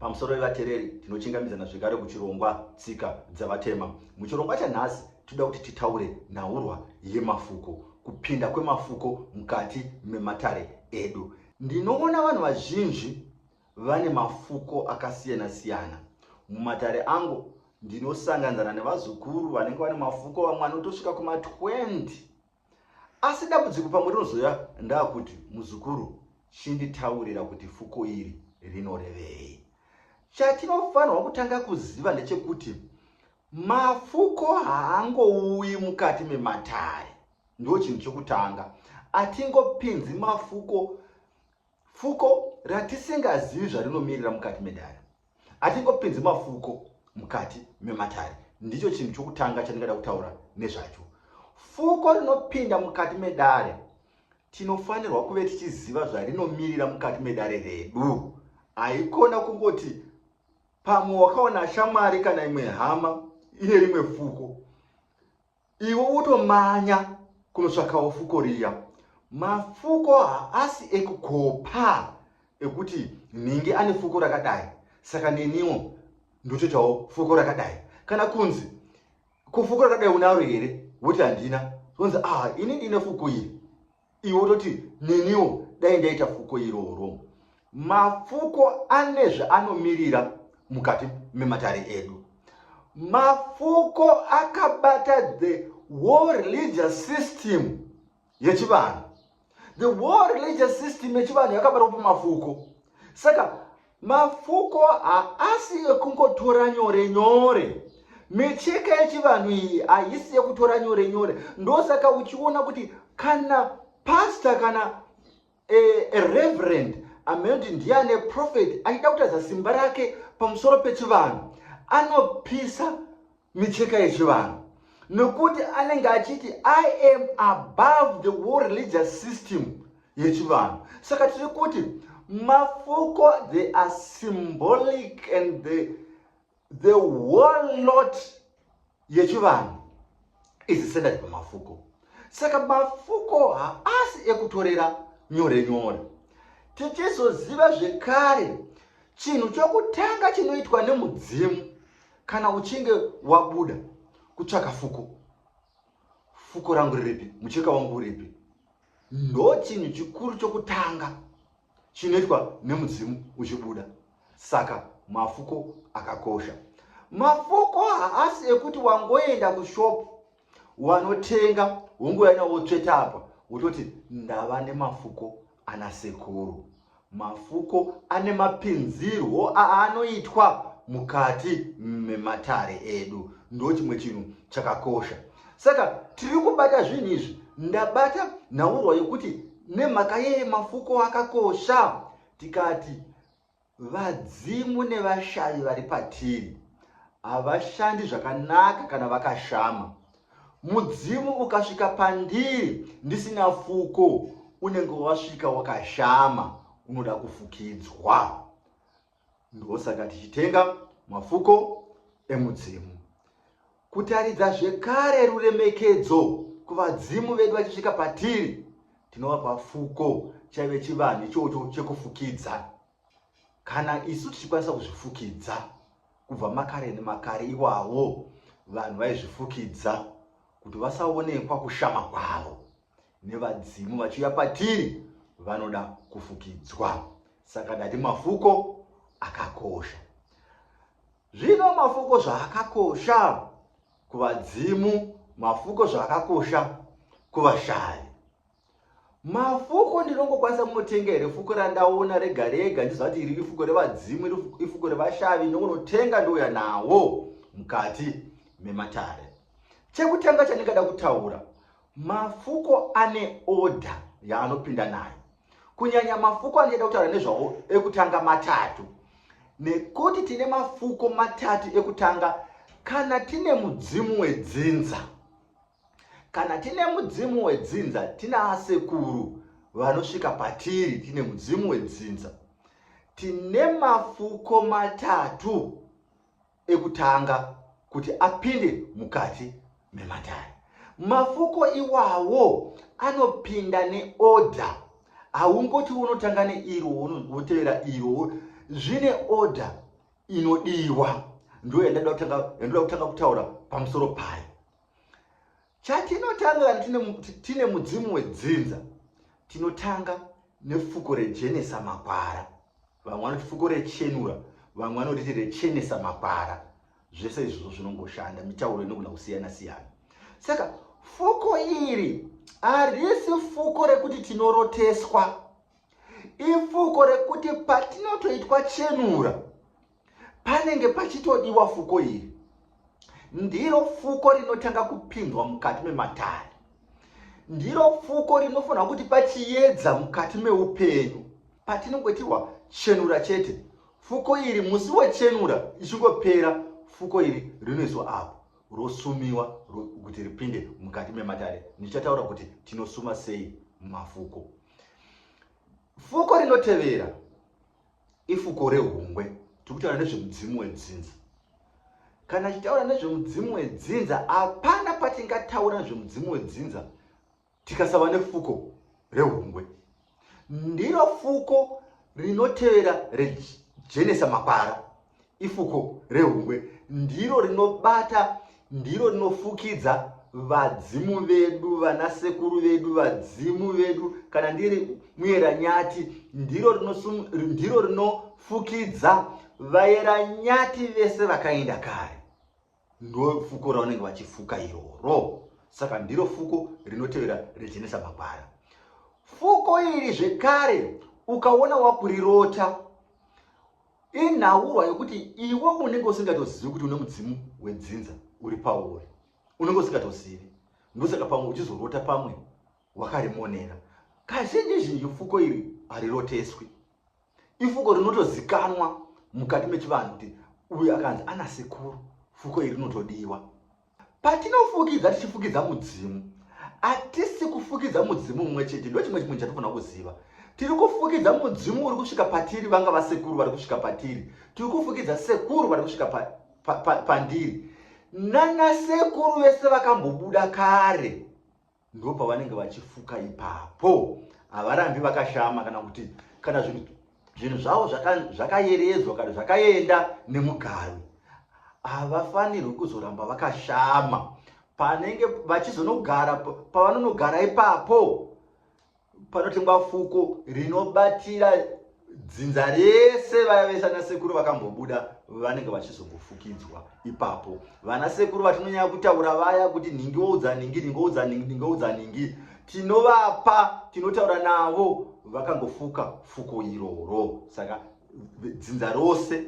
Pamusoro vevatereri, tinochingamidzana zvekare kuchirongwa Tsika dzaVatema. Muchirongwa chanhasi, tinoda kuti titaure nhaurwa yemafuko, kupinda kwemafuko mukati mematare edu. Ndinoona vanhu vazhinji vane mafuko akasiyana-siyana. Mumatare angu, ndinosanganzana nevazukuru vanenge vane mafuko, vamwe anotosvika kuma-20 asi dambudziko pamwe rinozoya ndakuti muzukuru chinditaurira kuti fuko iri rinorevei chatinofanirwa kutanga kuziva ndechekuti mafuko haangouyi mukati mematare ndo chinhu chekutanga atingopinzi mafuko Fuko ratisingazivi zvarinomirira mukati medare. Hatingopinzi mafuko mukati mematare. Ndicho chinhu chokutanga chandingada kutaura nezvacho. Fuko rinopinda mukati medare tinofanirwa kuve tichiziva zvarinomirira mukati medare redu. Haikona kungoti pamwe wakaona shamwari kana imwe hama ine rimwe fuko iwe wotomanya kunotsvakawo fuko riya mafuko haasi ekukopa ekuti nhingi ane fuko rakadai saka neniwo ndotoitawo fuko rakadai kana kunzi ko fuko rakadai unaro here woti handina zonzi ah ini ndine fuko iri iwe wototi neniwo dai ndaita fuko iroro mafuko ane zvaanomirira mukati mematare edu mafuko akabata the war religious system yechivanhu the war religious system yechivanhu yakabatwa pamafuko saka Mafuko haasi ekungotora nyore nyore. Micheka yechivanhu iyi haisi yekutora nyore nyore. Ndosaka uchiona kuti kana pastor kana a, eh, a reverend amene kuti ndiye ane profeti achida kutaridza simba rake pamusoro pechivanhu anopisa micheka yechivanhu nokuti anenge achiti i am above the war religious system yechivanhu saka tiri kuti mafuko they are symbolic and the, the whole lot yechivanhu izisendati pamafuko saka mafuko haasi ekutorera nyore nyore tichizoziva zvekare chinhu chokutanga chinoitwa nemudzimu kana uchinge wabuda kutsvaka fuko fuko rangu riripi mucheka wangu uripi ndo chinhu chikuru chokutanga chinoitwa nemudzimu uchibuda saka mafuko akakosha mafuko haasi ekuti wangoenda kushopu wanotenga wongouya nawo tsveta apa wototi ndava nemafuko ana sekuru mafuko ane mapinzirwo aanoitwa mukati mematare edu ndo chimwe chinhu chakakosha saka tiri kubata zvinhu izvi ndabata nhaurwa yokuti nemhaka yeye mafuko akakosha tikati Vadzimu nevashavi vari patiri havashandi zvakanaka kana vakashama. Mudzimu ukasvika pandiri ndisina fuko, unenge wasvika wakashama, unoda kufukidzwa. Ndosaka tichitenga mafuko emudzimu. Kutaridza zvekare ruremekedzo kuvadzimu vedu vachisvika patiri, tinovapa fuko chaive chivanhu ichocho chekufukidza. Kana isu tichikwanisa kuzvifukidza kubva makare nemakare, iwawo vanhu vaizvifukidza kuti vasaonekwa kushama kwavo nevadzimu vachiuya patiri vanoda kufukidzwa. Saka ndati mafuko akakosha. Zvino mafuko zvaakakosha kuvadzimu, mafuko zvaakakosha kuvashayi. Mafuko ndinongokwanisa kunotenga here fuko randaona rega rega ndiziva kuti iri ifuko revadzimu, iri ifuko revashavi, ndongonotenga ndouya nawo mukati mematare. Chekutanga chandingada kutaura, mafuko ane oda yaanopinda nayo. kunyanya mafuko andichada kutaura nezvawo ekutanga matatu nekuti tine mafuko matatu ekutanga kana tine mudzimu wedzinza kana tine mudzimu wedzinza tina asekuru vanosvika patiri tine mudzimu wedzinza tine mafuko matatu ekutanga kuti apinde mukati mematare. Mafuko iwawo anopinda neoda. Haungoti unotanga neiro wotevera iro, zvine oda inodiwa. Ndo yandoda kutanga kutaura pamusoro payo. Chatinotanga tine mudzimu wedzinza, tinotanga nefuko rechenesa makwara. Vamwe vanoti fuko rechenura, vamwe vanoti rechenesa makwara. Zvese izvozvo zvinongoshanda, mitauro inogona kusiyana siyana. Saka fuko iri harisi fuko rekuti tinoroteswa, ifuko rekuti patinotoitwa chenura panenge pachitodiwa fuko iri ndiro fuko rinotanga kupinzwa mukati mematare ndiro fuko rinofanira kuti pachiyedza mukati meupenyu patinongotiwa chenura chete fuko iri musi wechenura ichingopera fuko iri rinoiswa apo rosumiwa kuti ripinde mukati mematare ndichataura kuti tinosuma sei mafuko fuko rinotevera Ifuko rehungwe tiri kutaura nezvemudzimu wedzinza. Kana tichitaura nezvemudzimu wedzinza, hapana patingataura nezvemudzimu wedzinza tikasava nefuko rehungwe. Ndiro fuko rinotevera rejenesa makwara. ifuko rehungwe ndiro rinobata ndiro rinofukidza vadzimu vedu vanasekuru vedu vadzimu vedu kana ndiri muyeranyati ndiro ndiro rinofukidza vayeranyati vese vakaenda kare ndo fuko raunenge vachifuka iroro saka ndiro fuko rinotevera rejenesa magwara fuko iri zvekare ukaona wakurirota Inhaurwa yokuti iwe unenge usingatozivi kuti une mudzimu wedzinza uri pauri. Unenge usingatozivi. Ndosaka pamwe uchizorota pamwe wakarimonera. Kazhinji zhinji fuko iri hariroteswi. Ifuko rinotozikanwa mukati mechivanhu kuti uyu akanzi ana sekuru fuko iri rinotodiwa. Patinofukidza tichifukidza mudzimu, hatisi kufukidza mudzimu mumwe chete. Ndo chimwe chimwe chatofanira kuziva. Tiri kufukidza mudzimu uri kusvika patiri, vanga vasekuru vari kusvika patiri. Tiri kufukidza sekuru vari kusvika pa, pa, pa, pandiri. Nana sekuru vese vakambobuda kare. ndopavanenge vachifuka ipapo havarambi vakashama kana kuti kana zvinhu zvinhu zvavo zvakayeredzwa kana zvakaenda nemugaro havafanirwi kuzoramba vakashama panenge vachizonogara pavanonogara ipapo panotengwa fuko rinobatira dzinza rese vaya vese ana sekuru vakambobuda vanenge vachizongofukidzwa ipapo vana sekuru vatinonyanya kutaura vaya kuti nhingi woudza nhingi nhingi woudza nhingi nhingi woudza nhingi tinovapa tinotaura navo vakangofuka fuko iroro saka dzinza rose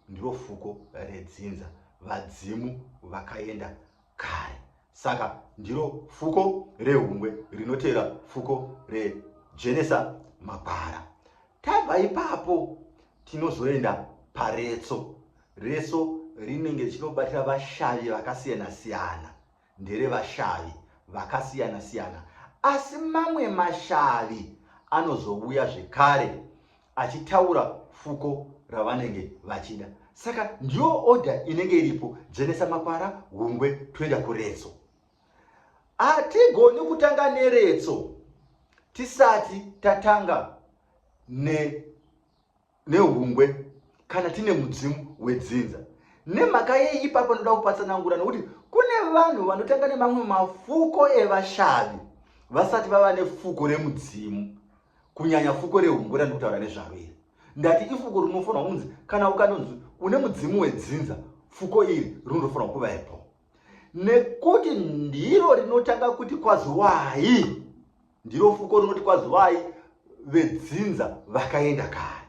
ndiro fuko redzinza vadzimu vakaenda Kai, saka ndiro fuko rehungwe rinoteera fuko rejenesa magwara. Tabva ipapo tinozoenda paretso. Retso rinenge richinobatira vashavi vakasiyana siyana, ndere vashavi vakasiyana siyana, asi mamwe mashavi anozouya zvekare achitaura fuko ravanenge vachida saka ndiyo order inenge iripo dzvenesa makwara hungwe toenda kuretso hatigoni kutanga neretso tisati tatanga nehungwe ne kana tine mudzimu wedzinza nemhaka yei ipapo ndoda kupatsanangura nokuti kune vanhu vanotanga nemamwe mafuko evashavi vasati vava nefuko remudzimu kunyanya fuko rehumbu randikutaura nezvaro iri ndati ifuko rinofanira kunzi kana ukanonzi une mudzimu wedzinza fuko iri rinotofanira kuvaepo nekuti ndiro rinotanga kuti kwaziwai ndiro fuko rinoti kwaziwai vedzinza vakaenda kare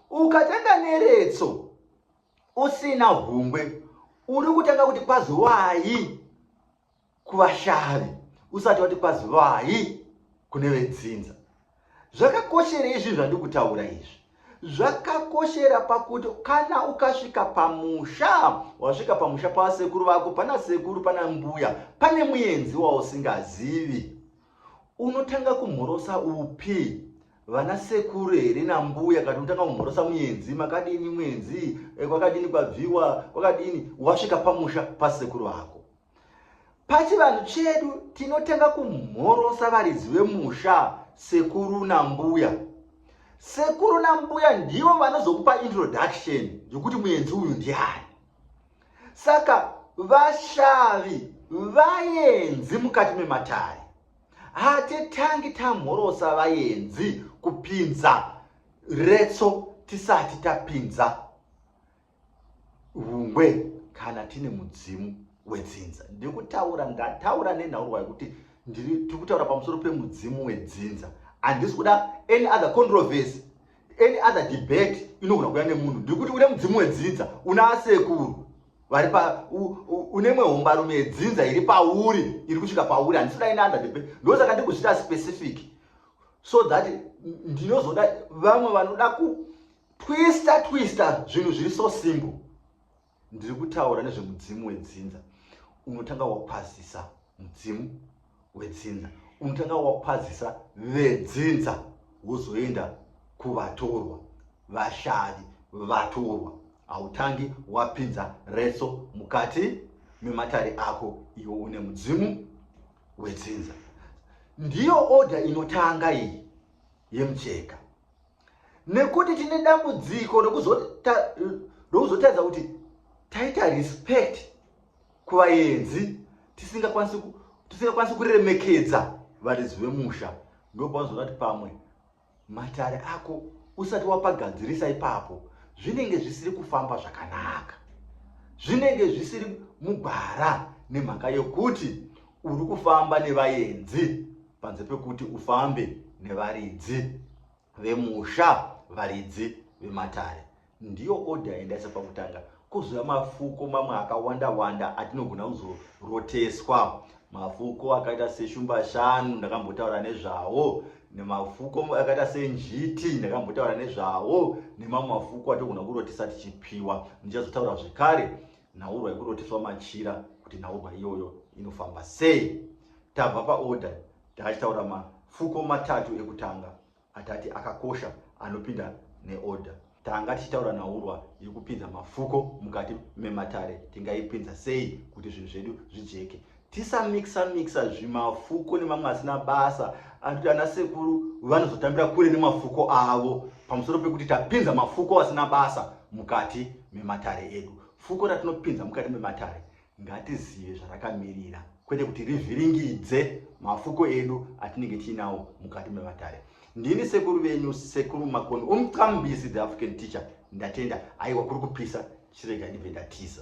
ukatanga neretso usina hungwe uri kutanga kuti kwaziwai kuvashavi usati wati kwazivai kune vedzinza zvakakoshera izvi zvandiri kutaura izvi zvakakoshera pakuti kana ukasvika pamusha wasvika pamusha pavasekuru vako pana sekuru pana mbuya pane muenzi wausingazivi Unotanga kumhorosa upi? Vana sekuru here nambuya kana unotanga kumhorosa muenzi makadini muenzi eh, kwakadini kwabviwa kwakadini wasvika pamusha pasekuru vako. Pachivanhu chedu tinotanga kumhorosa varidzi vemusha sekuru nambuya. Sekuru nambuya ndivo vanozokupa introduction yokuti muenzi uyu ndiani. saka vashavi vayenzi mukati mematare hatitangi tamhorosa vayenzi kupinza retso tisati tapinza hungwe kana tine mudzimu wedzinza ndiri kutaura ndataura nenhaurwa yekuti ndiri tiri kutaura pamusoro pemudzimu wedzinza handisi kuda any other controversy any other debate inogona kuya nemunhu ndikuti une mudzimu wedzidza una asekuru vari pa une mwe hombarume yedzinza iri pauri iri kusvika pauri handisi kuda ine under debate ndosaka ndi kuzvita specific so that ndinozoda vamwe vanoda kutwista twista zvinhu zviri so simple ndiri kutaura nezvemudzimu wedzinza unotanga wakwazisa mudzimu wedzinza unotanga wakwazisa vedzinza wozoenda kuvatorwa vashavi vatorwa hautangi wapinza reso mukati mematare ako iwo une mudzimu wedzinza ndiyo oda inotanga iyi yemucheka nekuti tine dambudziko rokuzotaridza kuti taita respect kuvaenzi tisingakwanisi kuremekedza varidzi vemusha ndopaunozoona kuti pamwe matare ako usati wapagadzirisa ipapo zvinenge zvisiri kufamba zvakanaka zvinenge zvisiri mugwara nemhaka yokuti uri kufamba nevaenzi panze pekuti ufambe nevaridzi vemusha varidzi vematare ndiyo oda yaindaisa pakutanga kuzouya mafuko mamwe akawanda wanda atinogona kuzoroteswa mafuko akaita seshumba shanu ndakambotaura nezvawo nemafuko akaita senjiti ndakambotaura nezvawo nemamwe mafuko atogona kurotesa tichipiwa ndichazotaura zvekare nhaurwa yekuroteswa machira kuti nhaurwa iyoyo inofamba sei Tabva paorder taachitaura mafuko matatu ekutanga atati akakosha anopinda neorder. Tanga tichitaura nhaurwa yekupinza mafuko mukati mematare tingaipinza sei kuti zvinhu zvedu zvijeke. Tisamixa mixa zvimafuko nemamwe asina basa anoti ana sekuru vanozotambira kure nemafuko avo pamusoro pekuti tapinza mafuko asina basa mukati mematare edu. Fuko ratinopinza mukati mematare Ngatizive zvarakamirira kwete kuti rivhiringidze mafuko edu atinenge tiinawo mukati mevatare. Ndini sekuru venyu sekuru Makoni umqambisi the African teacher ndatenda aiwa kuri kupisa chirega ndibve ndatiza.